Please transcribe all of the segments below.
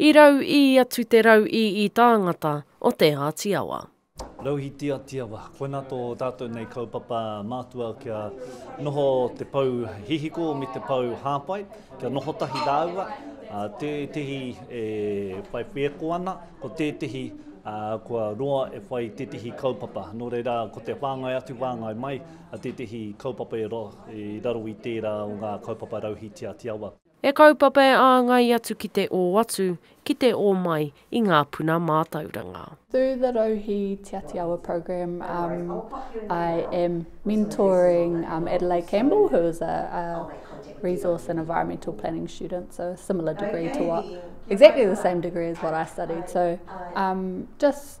I rau ī atu te rau ī ī tāngata o Te Āti Awa. Rauhī Te Āti Awa, koinā tō tātou nei kaupapa mātua kia noho te pou hihiko me te pou hāpai, kia noho tahi rāua, tētehi e whai whēko ana, ko tētehi kua roa e whai tētehi kaupapa. Nō reira, ko te whāngai atu, whāngai mai, tētehi kaupapa e raro i tērā o ngā kaupapa Rauhī Te Āti Awa. E kaupapa e āngai atu ki te ō atu, ki te ō mai i ngā puna mātauranga. Through the Rauhi Te Atiawa program I am mentoring Adelaide Campbell who is a resource and environmental planning student so similar degree to what exactly the same degree as what I studied so just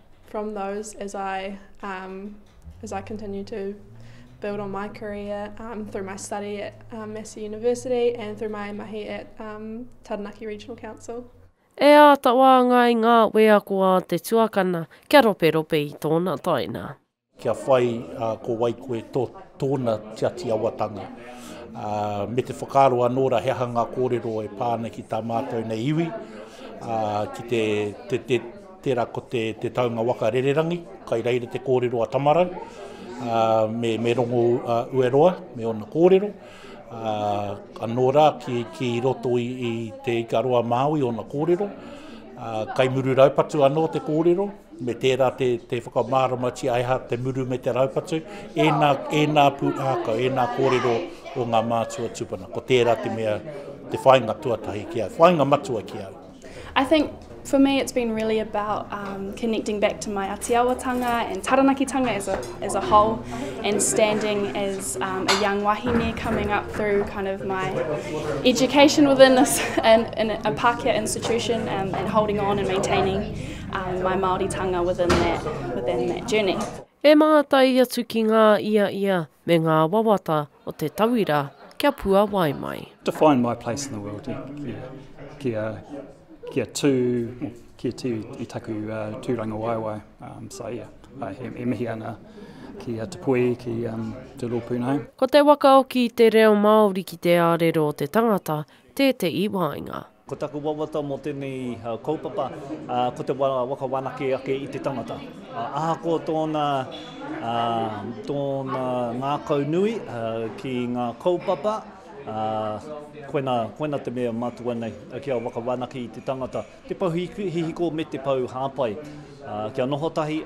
from those as I um, as I continue to build on my career um, through my study at um, Massey University and through my mahi at um, Taranaki Regional Council. E āta wāngai ngā wēako a te tuakana kia roperope i tōna taina. Kia whai ko wai koe tō tōna tiati awatanga. Me te whakaaro anō ra he aha ngā kōrero e pā ana ki tā mātou nei iwi, ki te, te, te, tērā ko te, te taunga waka rererangi, kai reira te kōrero a Tamarau, me, me Rongo Ueroa, me ōna kōrero. Anō rā ki, ki roto i, i te Ikaroa Māui ōna kōrero. Kai Muru Raupatu anō te kōrero. Me tērā te, te whakamāramatia he aha te muru me te raupatu, ēnā, ēnā pūrākau, ēnā kōrero o ngā mātua tūpuna. Ko tērā te mea, te whāinga tuatahi ki au, whāinga matua ki au. I think for me it's been really about um, connecting back to my atiawatanga and taranakitanga as a, as a whole and standing as um, a young wahine coming up through kind of my education within this and, and a Pākehā institution um, and holding on and maintaining um, my Māoritanga within that, within that journey. E mātai atu ki ngā ia ia me ngā wawata o te tauira kia puawai mai. Define my place in the world, yeah. kia, kia tū, kia tū i taku uh, tūranga waewae. Um, so yeah, uh, he, he mihi ana ki a Te Pui, ki um, Te Rōpūnai. Ko te wakaoki i te reo Māori ki te ārero o te tangata tētehi wāinga. Ko taku wawata mō tēnei kaupapa, ko te waka whanake ake i te tangata. Ahakoa tōna ngākau nui ki ngā kaupapa, koina te mea matua nei, kia waka whanake i te tangata, te pou hihiko me te pou hāpai, kia noho tahi,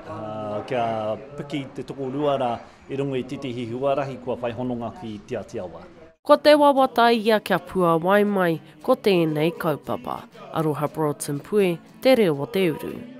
kia piki te tokorua rā I runga i titihi huarahi kua whai hononga ki Te Ati Awa. Ko te wawata ia kia puawai mai ko tēnei kaupapa. Aroha Broughton Pue, Te Reo o te Uru.